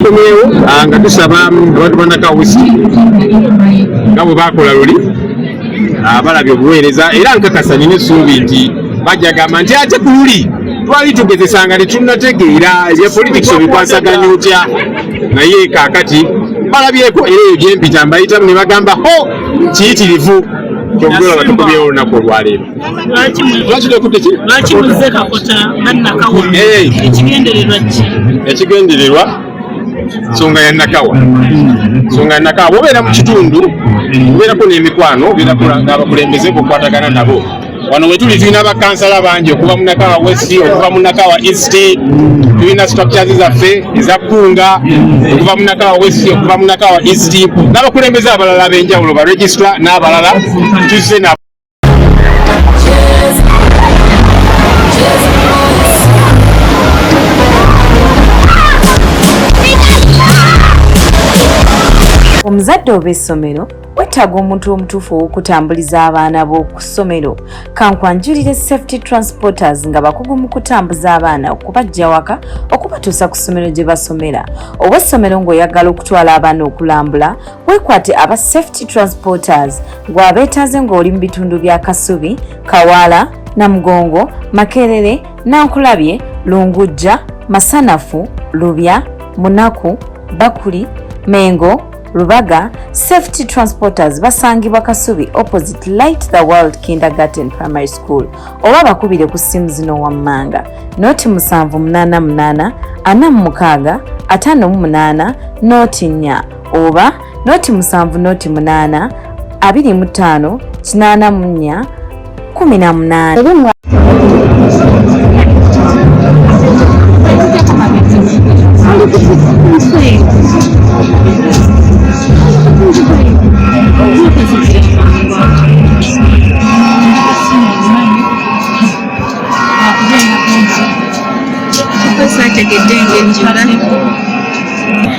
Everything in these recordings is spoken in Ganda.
tukomyewo ah, nga tusaba abantu banakawusi nga bwe bakola luli ah, balabye obuweereza era nkakasa nina essuubi nti bajja gamba nti ate ku luli twali tugezesa nga tetunategeera ebya politics obikwasaganya otya naye kakati balabyeko era ebyo gyempita mbayitamu ne bagamba ho kiyitirivu kyokugolaba tukomyewo olunaku olwaleero lwaki lwaki tokudde ki lwaki muzze kakota nga nakawa ekigendererwa ki ekigendererwa nsonga ya nakawa nsonga ya nakawa bobeera mu kitundu obeerako n'emikwano obeerako n'abakulembeze bokwatagana nabo wano wetuli tulina bakansala bangi okuva munakawa west okuva munakawa east tulina structures zaffe ezakkunga okuva munakawa west okuva munakawa east n'abakulembeze abalala ab'enjawulo baregistra n'abalala tuzze nabo omuzadde oba essomero weetaaga omuntu omutuufu ow'okutambuliza abaana b'oku ssomero kankwanjulire safety transporters nga bakugu mu kutambuza abaana okubajja waka okubatuusa ku ssomero gye basomera ow'essomero ng'oyagala okutwala abaana okulambula weekwate aba safety transporters Gw'abeetaaze ng'oli mu bitundu bya Kasubi, Kawaala, Namugongo, Makerere, Nankulabye, Lungujja, Masanafu, Lubya, Munaku, Bakuli, Mengo, Rubaga, Safety Transporters basangibwa Kasubi opposite Light the World Kindergarten Primary School oba bakubire ku ssimu zino wammanga noti musanvu munaana munaana ana mu mukaaga ataano mu munaana noti nnya oba noti musanvu noti munaana abiri mu ttaano kinaana mu nnya kumi na munaana Thank you.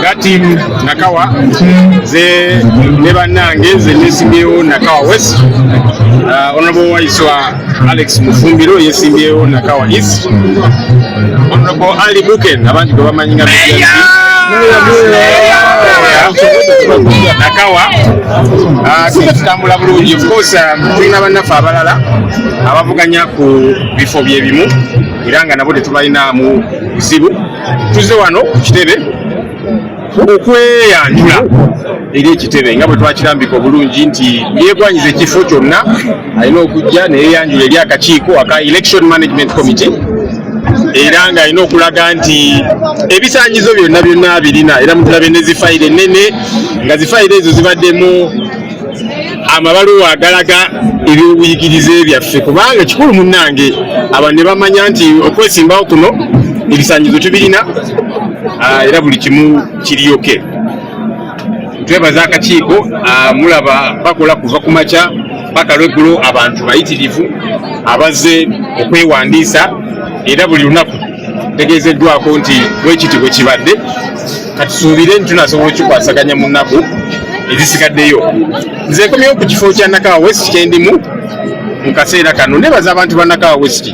nga tiimu nakawa ze ne bannange ze nesimbyewo nakawa west uh, honorable waiswa alex mufumbiro yesimbyewo nakawa east honorable ali buken abantu gwe bamanyi nga nakawa ah, singa tutambula bulungi ofcourse ah, tulina bannaffe abalala abavuganya ku bifo byebimu era nga nabo tetubalinamu buzibu tuze wano ku kitebe okweyanjula eri ekitebe nga bwe twakirambika obulungi nti yegwanyiza ekifo kyonna alina okujja neyeyanjula eri akakiiko aka election management committee era nga alina okulaga nti ebisanyizo byonna byonna birina era mutulabe ne zifayiro ennene nga zifayiro ezo zibaddemu amabaluwa agalaga ebyobuyigirize byaffe kubanga kikulu munnange abantu ne bamanya nti okwesimbawo kuno ebisanyizo tubirina ah, era buli kimu kiriyoke twebaza akakiiko ah, mulaba bakola kuva ku makya paka lweggulo abantu bayitirivu abazze okwewandiisa era buli lunaku tegeezeddwako nti bwekiti bwe kibadde katusuubire nti tunasobola okikwasaganya mu nnaku ezisigaddeyo nze nkomyewo ku kifo kya nakawa west kyendimu mu kaseera kano nebaza abantu ba nakawa west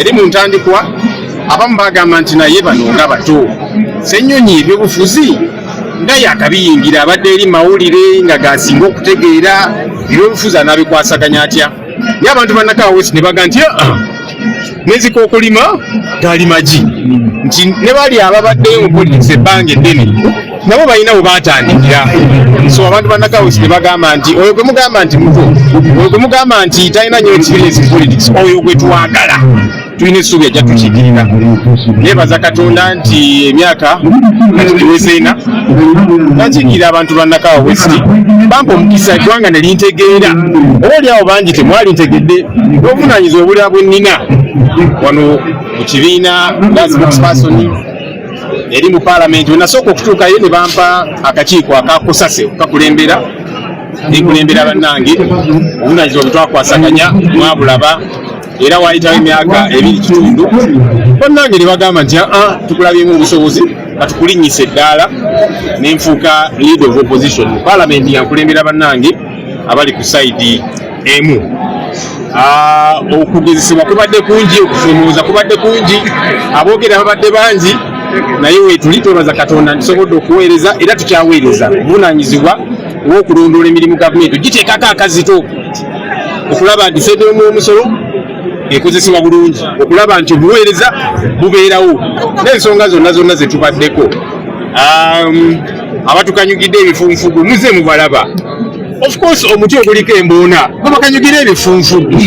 eri mu ntandikwa abamu bagamba nti naye bano nga bato senyonyi ebyobufuzi nga yakabiyingira abadde eri mawulire nga gasinga okutegeera ebyobufuzi anabikwasaganya atya ye abantu banakawa wesi ne baga nti ah, nezika okulima gali magi nti ne bali ababaddeyo mu politics ebbanga eddene nabo balina we batandikira so abantu banakawesi ne bagamba nti oyo gwe mugamba nti muto oyo gwe mugamba nti talina nyo experience politics oyo gwe twagala tulina essuubi ajja tukigirira nebaza katonda nti emyaka kati giweze ena nakiikira abantu bannakawa westi bampa omukisa eggwanga ne lintegeera oba oli awo bangi temwali ntegedde n'obuvunaanyiza obulira bwe nnina wano mu kibiina lazibukspersoni eri mu paalamenti wenasooka okutuukayo ne bampa akakiiko akakusase okukakulembera nekulembera bannange obunanyizibwa bwetwakwasaganya mwabulaba era waayitawo emyaka ebiri kitundu bannange ne bagamba nti aa tukulabyemu obusobozi katukulinnyisa eddaala ne nfuuka lead of opposition mu paalamenti yankulembera bannange abali ku sayidi emu Ah, okugezesebwa kubadde kungi okusomooza kubadde kungi aboogera babadde bangi naye wetuli twebaza katonda ntusobodde okuweereza era tukyaweereza buvunanyizibwa ng'okulondoola emirimu gavumenti ogiteekako akazito okulaba nti fedha omwomusolo ekozesebwa bulungi okulaba nti obuweereza bubeerawo n'ensonga zonna zonna zetubaddeko um, abatukanyugidde ebifunfugu muze mubalaba ofcourse omuti oguliko embuuna gwebakanyugira ebifunfugu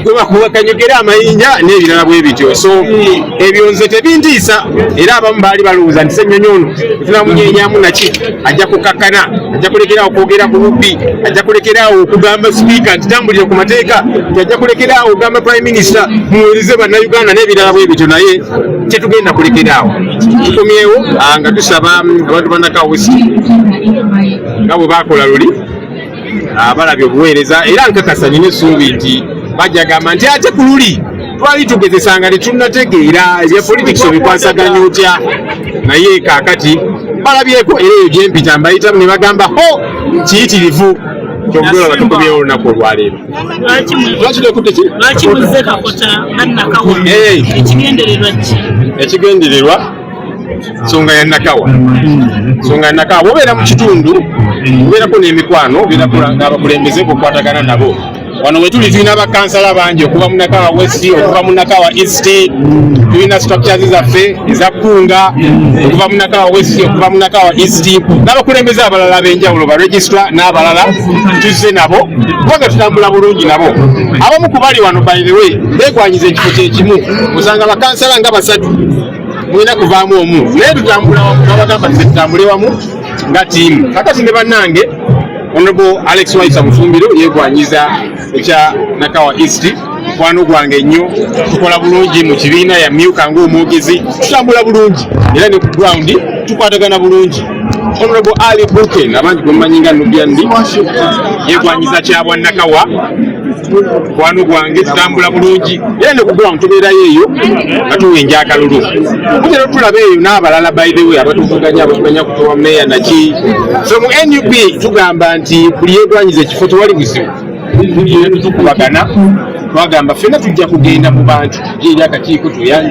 gwebakanyugira amayinja n'ebirala bwe bityo so ebyo nze tebintiisa era abamu baali balowooza nti senyonyi ono tunamunyenyamu naki ajja kukakkana ajja kulekeraawo okwogera ku bubbi ajja kulekeraawo okugamba sipiika nti tambulire ku mateeka nti ajja kulekeraawo okugamba prime minisita muwereze bannayuganda n'ebirala bwe bityo naye tetugenda kulekeraawo tukomyewo ah, nga tusaba mm, abantu banakawesi nga bwe bakola luli abalabye obuweereza era nkakasa nina essuubi nti bajja gamba nti ate ku luli twali tugezesanga tetunategeera ebya politics obikwasaganya otya naye kakati balabyeko era eyo gyempita mbayitamu ne bagamba ho kiyitirivu kyokulaba tukumyewo olunaku olwaleero lwaki tekutte ki ekigendererwa nsonga ya nakawa nsonga ya nakawa bobeera mu kitundu obeerako n'emikwano obeerako n'abakulembeze kukwatagana nabo wano wetuli tulina bakansala bangi okuva munakawa west okuva munakawa east tulina structures zaffe eza kunga okuva munakawa west okuva munakawa east n'abakulembeze abalala ab'enjawulo baregistra n'abalala tuzze nabo kubanga tutambula bulungi nabo abamu kubali wano by the way begwanyiza ekifo kyekimu osanga bakansala nga basatu mulina kuvaamu omu naye tutambula wamu nabagamba nti tutambule wamu nga tiimu kakati ne bannange honorable alex waisa mufumbiro yegwanyiza ekya nakawa east mukwano gwange nnyo tukola bulungi mu kibiina yamyuka ngaomwogezi tutambula bulungi era ne ku ground tukwatagana bulungi Honorable Ali Brooken abangi gwemumanyi nga Nubian Lee yegwanyiza kya bwannakawa mukwano gwange tutambula bulungi era ne kugula mutubeerayo eyo nga tuwenja akalulu kutera tulaba eyo n'abalala by the way abatuvuganya abatuganya kutowa meeya naki so mu nup tugamba nti buli yegwanyiza ekifo tewali buzibu tutukubagana twagamba fena tujja kugenda mu bantu eri akakiiko tuyanj